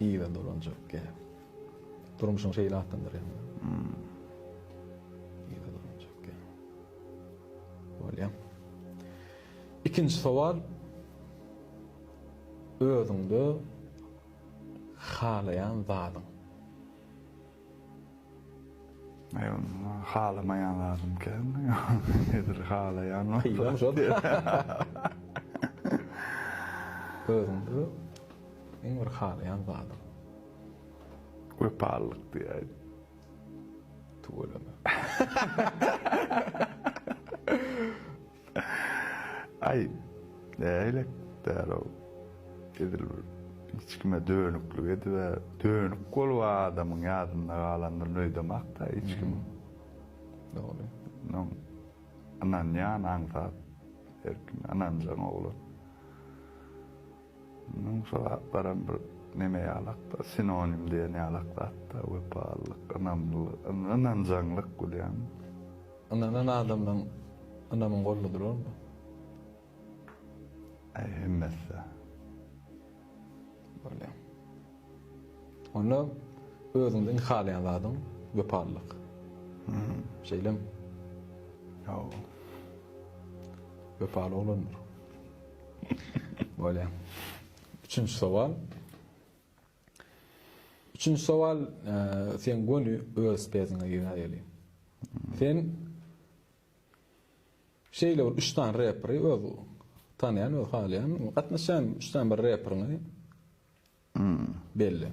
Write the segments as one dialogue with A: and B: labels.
A: Yza dolanjak gäp. Durmuşyň şeýle atlandyrýan. Yza dolanjak gäp. Bolýar. Ikinji sowal. Özüňde halaýan zadyň.
B: Halamaýan zadym kän. Nedir halaýan bolsa.
A: Özümde iň bir halaýan zadym. Wepalylyk
B: diýäýdim.
A: Tüweleme.
B: Aý, nähili däl-ow? Edil bir hiç kime dönüklik edib-ä, dönük bolup adamyň ýadynda galandyr nöýdemak-da hiç kim.
A: Dogry. Onuň
B: ynanýan aňsat, erkin ynanjaň oglan. Munuň sogaplaram bir neme ýalakda, sinonim diýen ýalak zatda, wepalylyk, ynamlylyk, ynanjaňlyk bolýarmy? Ynanan
A: adamdan ynamyň golda durarmy?
B: Äý, hemmesi-de.
A: Bolýa. Onda özüňde iň halaýan zadyň wepalylyk. Şeýlemi?
B: Ýok.
A: Wepaly oglandyr. Bolýa. Üçünji sowal. Üçünji sowal, e, sen göni öz peziňe ýöneýeli. Sen şeýle bir üç sany reperi öz tanýan, öz halaýan, gatnaşýan üç sany bir reperiňi hmm. belli.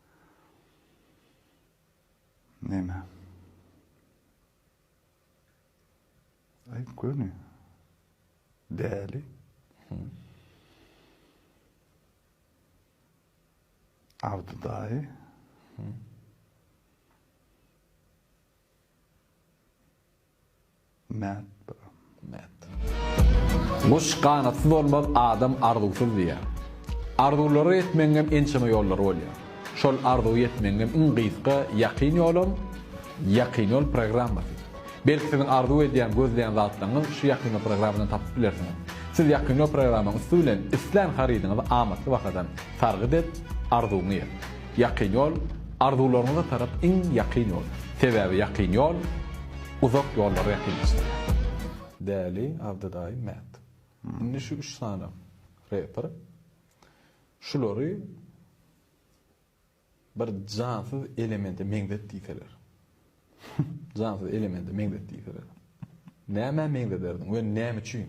B: Neme? Aýt göni. Däli. Abdy daýy. Mät bro mät.
A: Guş ganatsyz bolmaz adam arzuwsyz diýýär. Arzuwlara ýetmegiňem ençeme ýollary bolýar. Şol arzuwa ýetmegiňem iň gysga ýakyn ýolam Ýakyn ýol programmasy. Belki siziň arzuw edýän, gözleýän zatlaryňyz şu ýakyn ýol programmadan tapyp bilersiňiz. Siz ýakyn ýol programmaň üsti bilen islän harydyňyzy amatly bahadan sargyt et, arzuwyňy ýet. Ýakyn ýol arzuwlaryňyza tarap iň ýakyn ýol. Sebäbi ýakyn ýol. Uzak ýollary ýakynlaşdyrýar. Däli, Abdy daýy, Mät. Indi şu üç sany reper şulary bir jansyz elemente meňzet diýseler. Jansyz elemente meňzet diýseler. Nämä meňzederdiň we näme üçin?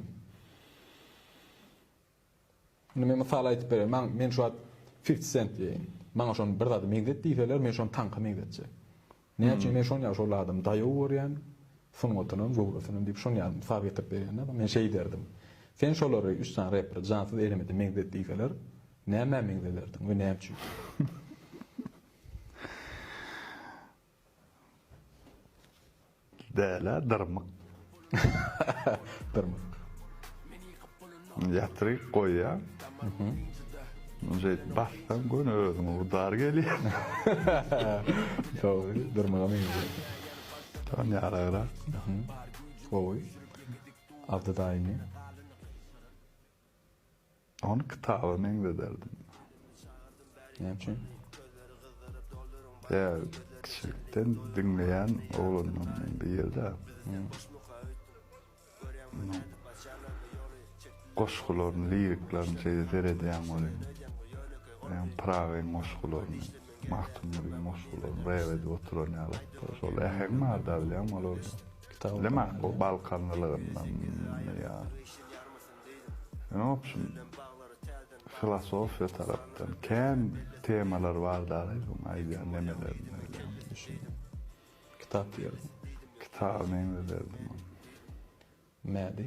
A: Indi men mysal aýdyp bereýin. Maňa men şu wagt Fifty Cent diýeýin. Maňa şony bir zady meňzet diýseler, men şony taňka meňzetjek. Näme üçin? Men şonýaly şol adamy daýaw görýän, sungatynam, göwresinem diýip şonýaly mysal getirip berýän-de. Men şeý derdim. Sen şolary üç sany reperi Jansyz Eremede meňzet diýseler, nämä meňzederdiň we näme üçin?
B: Bälä dyrmyk.
A: Dyrmyk.
B: Ýatyryk goýýaň. Şeýdip bassaň göni özüňe udar gelýär.
A: Dogry, dyrmyga meňzeýär.
B: Ýa ýaragrak.
A: Gowy. Abdy daýymy.
B: Ony kitaba meňzederdim. Näme
A: üçin?
B: Ýa kiçilikden diňleýän oglandan men bu ýerde. Onuň goşgularyny, liriklaryny şeýle seredýän welin, meň Pyragyň goşgularyny, Magtymgulyň goşgularyny rap edip oturan ýalyk-da. Şol äheň bar-da bilýäňmi olarda. Kitapda. Bilemok,
A: o
B: balkanlylygyndanmy ýa. Inobçim filosofiýa tarapdan kän temalar bar dagy bu aýdýan nemelerinde diýen düşündim.
A: Kitap diýerdim. Kitap neňze
B: berdim ony.
A: Nädi?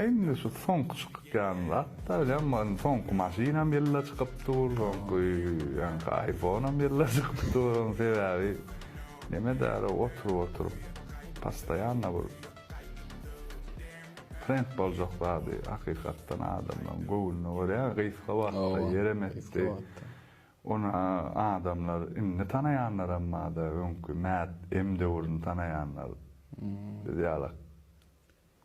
B: Indi şu soňky çykýan zatlar bilen indi soňky maşynam ýylla çykyp dur, soňky ýaňky aýfonam ýylla çykyp dur, onuň sebäbi neme däri oturyp oturyp postoýanna bir trend boljak zady hakykatdan adamlaryň göwnüne görýä gysga wagtda ýerem etdi, ony adamlar indi tanaýanlaram barda öňki mad em döwrüni tanaýanlar biz ýalak.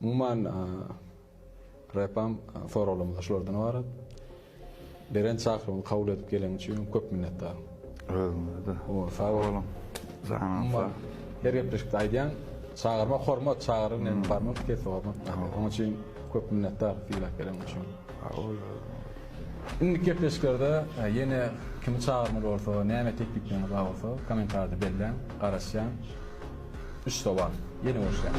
A: Umuman, repam soraglarymyz şulardan ybarat. Beren çakyrygyňy kabul edip geleň üçin köp minnetdar. Özüňize-de.
B: Sag boluň.
A: Janyňyz
B: sag. Her gepleşikde
A: aýdýaň, çagyrmak hormat, çagyryp näme barmak pes hormat. Onuň üçin köp minnetdar sylag bereniň üçin. Sag bol özüňize. Indiki gepleşiklerde ýene kimi çagyrmaly bolsa, näme teklipleňiz bar bolsa kommentariýada belläň, garaşýan. Üç sowal. Ýene görüşýäs.